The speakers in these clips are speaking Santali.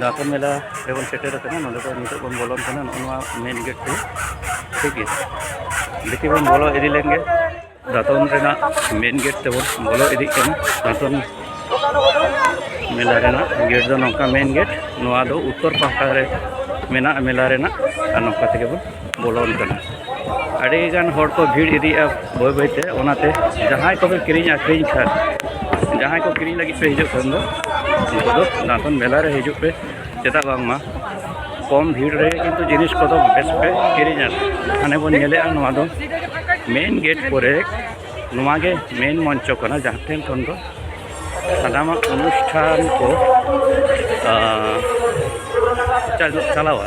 ᱫᱟᱸᱛᱚᱱ ᱢᱮᱞᱟ ᱨᱮᱵᱚᱱ ᱥᱮᱴᱮᱨ ᱟᱠᱟᱱᱟ ᱱᱚᱰᱮ ᱫᱚ ᱱᱤᱛᱚᱜ ᱵᱚᱱ ᱵᱚᱞᱚᱱ ᱠᱟᱱᱟ ᱱᱚᱜᱼᱚ ᱱᱚᱣᱟ ᱢᱮᱱ ᱜᱮᱴ ᱛᱮ ᱴᱷᱤᱠ ᱜᱮᱭᱟ ᱵᱷᱤᱛᱤ ᱵᱚᱱ ᱵᱚᱞᱚ ᱤᱫᱤ ᱞᱮᱱ ᱜᱮ ᱫᱟᱸᱛᱚᱱ ᱨᱮᱱᱟᱜ ᱢᱮᱱ ᱜᱮᱴ ᱛᱮᱵᱚᱱ ᱵᱚᱞᱚ ᱤᱫᱤᱜ ᱠᱟᱱᱟ ᱫᱟᱸᱛᱚᱱ ᱢᱮᱞᱟ ᱨᱮᱱᱟᱜ ᱜᱮᱴ ᱫᱚ ᱱᱚᱝᱠᱟ ᱢᱮᱱ ᱜᱮᱴ ᱱᱚᱣᱟ ᱫᱚ ᱩᱛᱛᱚᱨ ᱯᱟᱦᱴᱟ ᱨᱮ ᱢᱮᱱᱟᱜᱼᱟ ᱢᱮᱞᱟ ᱨᱮᱱᱟᱜ ᱟᱨ ᱱᱚᱝᱠᱟ ᱛᱮᱜᱮ ᱵᱚᱱ ᱵᱚᱞᱚᱱ ᱠᱟᱱᱟ ᱟᱹᱰᱤ ᱜᱟᱱ ᱦᱚᱲ ᱠᱚ ᱵᱷᱤᱲ ᱤᱫᱤᱜᱼᱟ ᱵᱟᱹᱭ ᱵᱟᱹᱭ ᱛᱮ ᱚᱱᱟᱛᱮ ᱡᱟᱦᱟᱸᱭ ᱠᱚᱯᱮ ᱠᱤᱨᱤᱧ ᱟᱹᱠᱷᱨᱤᱧ ᱠᱷᱟᱱ ᱡᱟᱦᱟᱸᱭ ᱠᱚ ᱠᱤᱨᱤᱧ ᱞᱟᱹᱜᱤᱫ ᱯᱮ ᱦᱤᱡᱩᱜ ᱠᱷᱟᱱ ᱫᱚ ᱩᱱᱠᱩ ᱫᱚ ᱱᱟᱛᱚᱱ ᱢᱮᱞᱟ ᱨᱮ ᱦᱤᱡᱩᱜ ᱯᱮ ᱪᱮᱫᱟᱜ ᱵᱟᱝᱢᱟ ᱠᱚᱢ ᱵᱷᱤᱲ ᱨᱮ ᱠᱤᱱᱛᱩ ᱡᱤᱱᱤᱥ ᱠᱚᱫᱚ ᱵᱮᱥ ᱯᱮ ᱠᱤᱨᱤᱧᱟ ᱦᱟᱱᱮ ᱵᱚᱱ ᱧᱮᱞᱮᱜᱼᱟ ᱱᱚᱣᱟ ᱫᱚ ᱢᱮᱱ ᱜᱮᱴ ᱠᱚᱨᱮ ᱱᱚᱣᱟ ᱜᱮ ᱢᱮᱱ ᱢᱚᱧᱪᱚ ᱠᱟᱱᱟ ᱡᱟᱦᱟᱸ ᱴᱷᱮᱱ ᱠᱷᱚᱱ ᱫᱚ ᱥᱟᱱᱟᱢᱟᱜ ᱚᱱᱩᱥᱴᱷᱟᱱ ᱠᱚ ᱪᱟᱞᱟᱣᱟ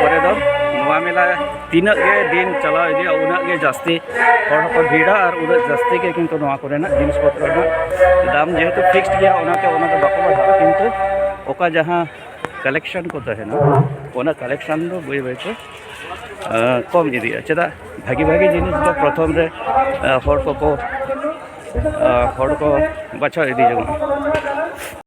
ᱯᱚᱨᱮ ᱫᱚ ᱱᱚᱣᱟ ᱢᱮᱞᱟ ᱛᱤᱱᱟᱹᱜ ᱜᱮ ᱫᱤᱱ ᱪᱟᱞᱟᱣ ᱤᱫᱤᱜᱼᱟ ᱩᱱᱟᱹᱜ ᱜᱮ ᱡᱟᱹᱥᱛᱤ ᱦᱚᱲ ᱦᱚᱸᱠᱚ ᱵᱷᱤᱲᱟ ᱟᱨ ᱩᱱᱟᱹᱜ ᱡᱟᱹᱥᱛᱤ ᱜᱮ ᱠᱤᱱᱛᱩ ᱱᱚᱣᱟ ᱠᱚᱨᱮᱱᱟᱜ ᱡᱤᱱᱤᱥ ᱯᱚᱛᱨᱚ ᱨᱮᱱᱟᱜ ᱫᱟᱢ ᱡᱮᱦᱮᱛᱩ ᱯᱷᱤᱠᱥᱰ ᱜᱮᱭᱟ ᱚᱱᱟᱛᱮ ᱚᱱᱟ ᱫᱚ ᱵᱟᱠᱚ ᱵᱟᱲᱦᱟᱜᱼᱟ ᱠᱤᱱᱛᱩ ᱚᱠᱟ ᱡᱟᱦᱟᱸ ᱠᱟᱞᱮᱠᱥᱚᱱ ᱠᱚ ᱛᱟᱦᱮᱱᱟ ᱚᱱᱟ ᱠᱟᱞᱮᱠᱥᱚᱱ ᱫᱚ ᱵᱟᱹᱭ ᱵᱟᱹᱭᱛᱮ ᱠᱚᱢ ᱤᱫᱤᱜᱼᱟ ᱪᱮᱫᱟᱜ ᱵᱷᱟᱹᱜᱤ ᱵᱷᱟᱹᱜᱤ ᱡᱤᱱᱤᱥ ᱫᱚ ᱯᱨᱚᱛᱷᱚᱢ ᱨᱮ ᱦᱚᱲ ᱠᱚᱠᱚ ᱦᱚᱲ ᱠᱚ ᱵᱟᱪᱷᱟᱣ ᱤᱫᱤ ᱡᱚᱝᱟ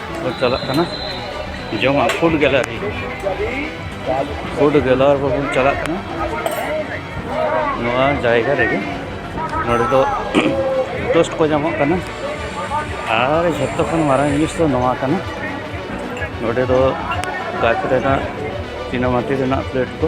ᱠᱚ ᱪᱟᱞᱟᱜ ᱠᱟᱱᱟ ᱡᱚᱢᱟᱜ ᱯᱷᱩᱰ ᱜᱮᱞᱟᱨᱤ ᱯᱷᱩᱰ ᱜᱮᱞᱟᱨ ᱵᱚᱱ ᱪᱟᱞᱟᱜ ᱠᱟᱱᱟ ᱱᱚᱣᱟ ᱡᱟᱭᱜᱟ ᱨᱮᱜᱮ ᱱᱚᱰᱮ ᱫᱚ ᱴᱳᱥᱴ ᱠᱚ ᱧᱟᱢᱚᱜ ᱠᱟᱱᱟ ᱟᱨ ᱡᱷᱚᱛᱚ ᱠᱷᱚᱱ ᱢᱟᱨᱟᱝ ᱡᱤᱱᱤᱥ ᱫᱚ ᱱᱚᱣᱟ ᱠᱟᱱᱟ ᱱᱚᱰᱮ ᱫᱚ ᱠᱟᱪ ᱨᱮᱱᱟᱜ ᱪᱤᱱᱟᱢᱟᱴᱤ ᱨᱮᱱᱟᱜ ᱯᱞᱮᱴ ᱠᱚ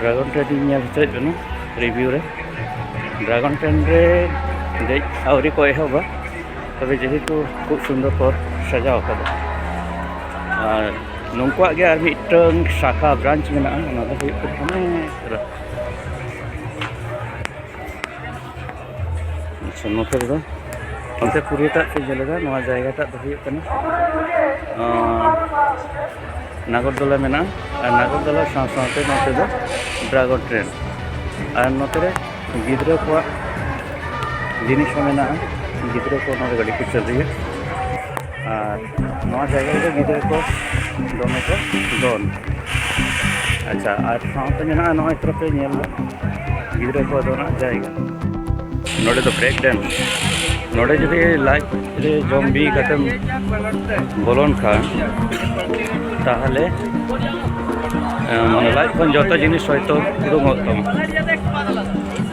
ᱰᱨᱟᱜᱚᱱ ᱴᱨᱮᱱ ᱤᱧ ᱧᱮᱞ ᱦᱚᱪᱚᱭᱮᱫ ᱵᱮᱱᱟ ᱨᱤᱵᱷᱤᱭᱩ ᱨᱮ ᱰᱨᱟᱜᱚᱱ ᱴᱨᱮᱱ ᱨᱮ ᱫᱮᱡ ᱟᱹᱣᱨᱤ ᱠᱚ ᱮᱦᱚᱵᱟ ᱛᱚᱵᱮ ᱡᱮᱦᱮᱛᱩ ᱠᱷᱩᱵ ᱥᱩᱱᱫᱚᱨ ᱠᱚ ᱥᱟᱡᱟᱣ ᱟᱠᱟᱫᱟ ᱟᱨ ᱱᱩᱠᱩᱣᱟᱜ ᱜᱮ ᱟᱨ ᱢᱤᱫᱴᱟᱝ ᱥᱟᱠᱷᱟ ᱵᱨᱟᱱᱪ ᱢᱮᱱᱟᱜᱼᱟ ᱚᱱᱟ ᱫᱚ ᱦᱩᱭᱩᱜ ᱠᱟᱱᱟ ᱟᱪᱪᱷᱟ ᱱᱚᱛᱮ ᱨᱮᱫᱚ ᱚᱱᱛᱮ ᱯᱩᱨᱤᱭᱟᱹᱴᱟᱜ ᱠᱚ ᱡᱮᱞᱮᱫᱟ ᱱᱚᱣᱟ ᱡᱟᱭᱜᱟᱴᱟᱜ ᱫᱚ ᱦᱩᱭᱩᱜ ᱠᱟᱱᱟ ᱱᱟᱜᱚᱨᱫᱚᱞᱟ ᱢᱮᱱᱟᱜᱼᱟ ᱟᱨ ᱱᱟᱜᱚᱨᱫᱚᱞᱟ ᱥᱟᱶ ᱥᱟᱶᱛᱮ ᱱᱚᱛᱮ ᱫᱚ ᱰᱨᱟᱜᱚᱱ ᱴᱨᱮᱱ ᱟᱨ ᱱᱚᱛᱮ ᱨᱮ ᱜᱤᱫᱽᱨᱟᱹ ᱠᱚᱣᱟᱜ ᱡᱤᱱᱤᱥ ᱦᱚᱸ ᱢᱮᱱᱟᱜᱼᱟ ᱜᱤᱫᱽᱨᱟᱹ ᱠᱚ ᱱᱚᱰᱮ ᱜᱟᱹᱰᱤ ᱠᱚ ᱪᱟᱹᱞᱩᱭᱟ ᱟᱨ ᱱᱚᱣᱟ ᱡᱟᱭᱜᱟ ᱨᱮᱫᱚ ᱜᱤᱫᱽᱨᱟᱹ ᱠᱚ ᱫᱚᱢᱮ ᱠᱚ ᱫᱚᱱ ᱟᱪᱪᱷᱟ ᱟᱨ ᱥᱟᱶᱛᱮ ᱢᱮᱱᱟᱜᱼᱟ ᱱᱚᱜᱼᱚᱭ ᱛᱚᱨᱚᱯᱮ ᱧᱮᱞ ᱫᱟ ᱜᱤᱫᱽᱨᱟᱹ ᱠᱚ ᱫᱚᱱᱟ ᱡᱟᱭᱜᱟ ᱱᱚᱰᱮ ᱫᱚ ᱵᱨᱮᱠ ᱰᱮᱱᱥ ᱱᱚᱰᱮ ᱡᱩᱫᱤ ᱞᱟᱡ ᱨᱮ ᱡᱚᱢ ᱵᱤ ᱠᱟᱛᱮᱢ ᱵᱚᱞᱚᱱ ᱠᱷᱟᱱ ᱛᱟᱦᱚᱞᱮ ᱢᱟᱱᱮ ᱞᱟᱡ ᱠᱷᱚᱱ ᱡᱚᱛᱚ ᱡᱤᱱᱤᱥ ᱦᱚᱭᱛᱳ ᱩᱰᱩᱠᱚᱜ ᱛᱟᱢᱟ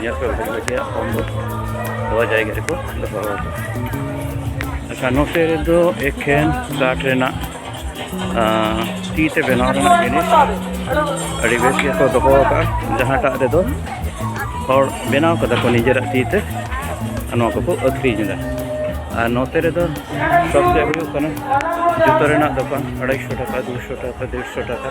ᱧᱮᱞ ᱯᱮ ᱵᱷᱟᱜᱮ ᱵᱷᱟᱜᱮ ᱯᱷᱳᱱ ᱫᱚ ᱱᱚᱣᱟ ᱡᱟᱭᱜᱟ ᱨᱮᱠᱚ ᱫᱚᱦᱚ ᱟᱪᱪᱷᱟ ᱱᱚᱛᱮ ᱨᱮᱫᱚ ᱮᱠᱷᱮᱱ ᱠᱟᱴ ᱨᱮᱱᱟᱜ ᱛᱤ ᱛᱮ ᱵᱮᱱᱟᱣ ᱨᱮᱱᱟᱜ ᱡᱤᱱᱤᱥ ᱟᱹᱰᱤ ᱵᱮᱥ ᱜᱮᱠᱚ ᱫᱚᱦᱚ ᱟᱠᱟᱫᱼᱟ ᱡᱟᱦᱟᱸᱴᱟᱜ ᱨᱮᱫᱚ ᱦᱚᱲ ᱵᱮᱱᱟᱣ ᱠᱟᱫᱟ ᱠᱚ ᱱᱤᱡᱮᱨᱟᱜ ᱛᱤ ᱛᱮ ᱱᱚᱣᱟ ᱠᱚᱠᱚ ᱟᱹᱠᱷᱨᱤᱧ ᱮᱫᱟ ᱟᱨ ᱱᱚᱛᱮ ᱨᱮᱫᱚ ᱥᱚᱵᱽᱡᱮ ᱦᱩᱭᱩᱜ ᱠᱟᱱᱟ ᱡᱩᱛᱟᱹ ᱨᱮᱱᱟᱜ ᱫᱚᱠᱟᱱ ᱟᱲᱟᱭᱥᱚ ᱴᱟᱠᱟ ᱫᱩᱥᱚ ᱴᱟᱠᱟ ᱫᱮᱲᱥᱚ ᱴᱟᱠᱟ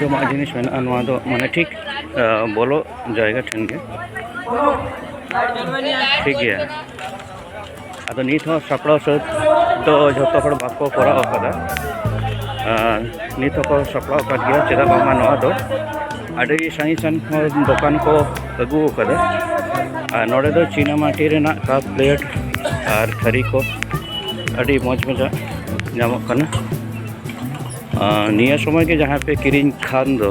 ᱡᱚᱢᱟᱜ ᱡᱤᱱᱤᱥ ᱢᱮᱱᱟᱜᱼᱟ ᱱᱚᱣᱟ ᱫᱚ ᱢᱟᱱᱮ ᱴᱷᱤᱠ ᱵᱚᱞᱚ ᱡᱟᱭᱜᱟ ᱴᱷᱮᱱ ᱜᱮ ᱴᱷᱤᱠ ᱜᱮᱭᱟ ᱟᱫᱚ ᱱᱤᱛ ᱦᱚᱸ ᱥᱟᱯᱲᱟᱣ ᱥᱟᱹᱛ ᱫᱚ ᱡᱷᱚᱛᱚ ᱦᱚᱲ ᱵᱟᱠᱚ ᱠᱚᱨᱟᱣ ᱟᱠᱟᱫᱟ ᱱᱤᱛ ᱦᱚᱸᱠᱚ ᱥᱟᱯᱲᱟᱣ ᱟᱠᱟᱫ ᱜᱮᱭᱟ ᱪᱮᱫᱟᱜ ᱵᱟᱝᱢᱟ ᱱᱚᱣᱟ ᱫᱚ ᱟᱹᱰᱤ ᱥᱟᱺᱜᱤᱧ ᱥᱟᱺᱜᱤᱧ ᱠᱷᱚᱱ ᱫᱚᱠᱟᱱ ᱠᱚ ᱟᱹᱜᱩ ᱟᱠᱟᱫᱟ ᱟᱨ ᱱᱚᱰᱮ ᱫᱚ ᱪᱤᱱᱟ ᱢᱟᱹᱴᱤ ᱨᱮᱱᱟᱜ ᱠᱟᱯ ᱯᱞᱮᱴ ᱟᱨ ᱛᱷᱟᱹᱨᱤ ᱠᱚ ᱟᱹᱰᱤ ᱢᱚᱡᱽ ᱢᱚᱡᱟᱜ ᱧᱟᱢᱚᱜ ᱠᱟᱱᱟ ᱱᱤᱭᱟᱹ ᱥᱚᱢᱚᱭ ᱜᱮ ᱡᱟᱦᱟᱸᱭ ᱯᱮ ᱠᱤᱨᱤᱧ ᱠᱷᱟᱱ ᱫᱚ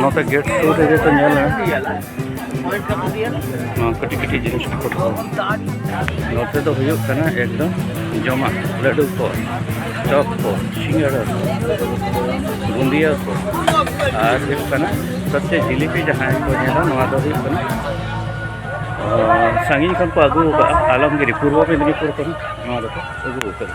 ᱱᱚᱛᱮ ᱜᱮᱴ ᱥᱩᱨ ᱨᱮᱜᱮ ᱠᱚ ᱧᱮᱞᱟ ᱱᱚᱣᱟ ᱠᱟᱹᱴᱤᱡ ᱠᱟᱹᱴᱤᱡ ᱡᱤᱱᱤᱥ ᱠᱚ ᱫᱚᱦᱚ ᱱᱚᱛᱮ ᱫᱚ ᱦᱩᱭᱩᱜ ᱠᱟᱱᱟ ᱮᱠᱫᱚᱢ ᱡᱚᱢᱟᱜ ᱞᱟᱹᱰᱩ ᱠᱚ ᱪᱚᱯ ᱠᱚ ᱥᱤᱸᱜᱟᱲᱟ ᱠᱚ ᱵᱩᱸᱫᱤᱭᱟᱹ ᱠᱚ ᱟᱨ ᱦᱩᱭᱩᱜ ᱠᱟᱱᱟ ᱥᱚᱵᱪᱮ ᱡᱤᱞᱤᱯᱤ ᱡᱟᱦᱟᱸᱭ ᱠᱚ ᱧᱮᱞᱟ ᱱᱚᱣᱟ ᱫᱚ ᱦᱩᱭᱩᱜ ᱠᱟᱱᱟ ᱥᱟᱺᱜᱤᱧ ᱠᱷᱚᱱ ᱠᱚ ᱟᱹᱜᱩ ᱟᱠᱟᱫᱼᱟ ᱟᱞᱚᱢᱜᱤᱨᱤ ᱯᱩᱨᱵᱚ ᱢᱮᱫᱽᱱᱤᱯᱩᱨ ᱠᱷᱚᱱ ᱱᱚᱣᱟ ᱫᱚᱠᱚ ᱟᱹᱜᱩ ᱟᱠᱟᱫᱟ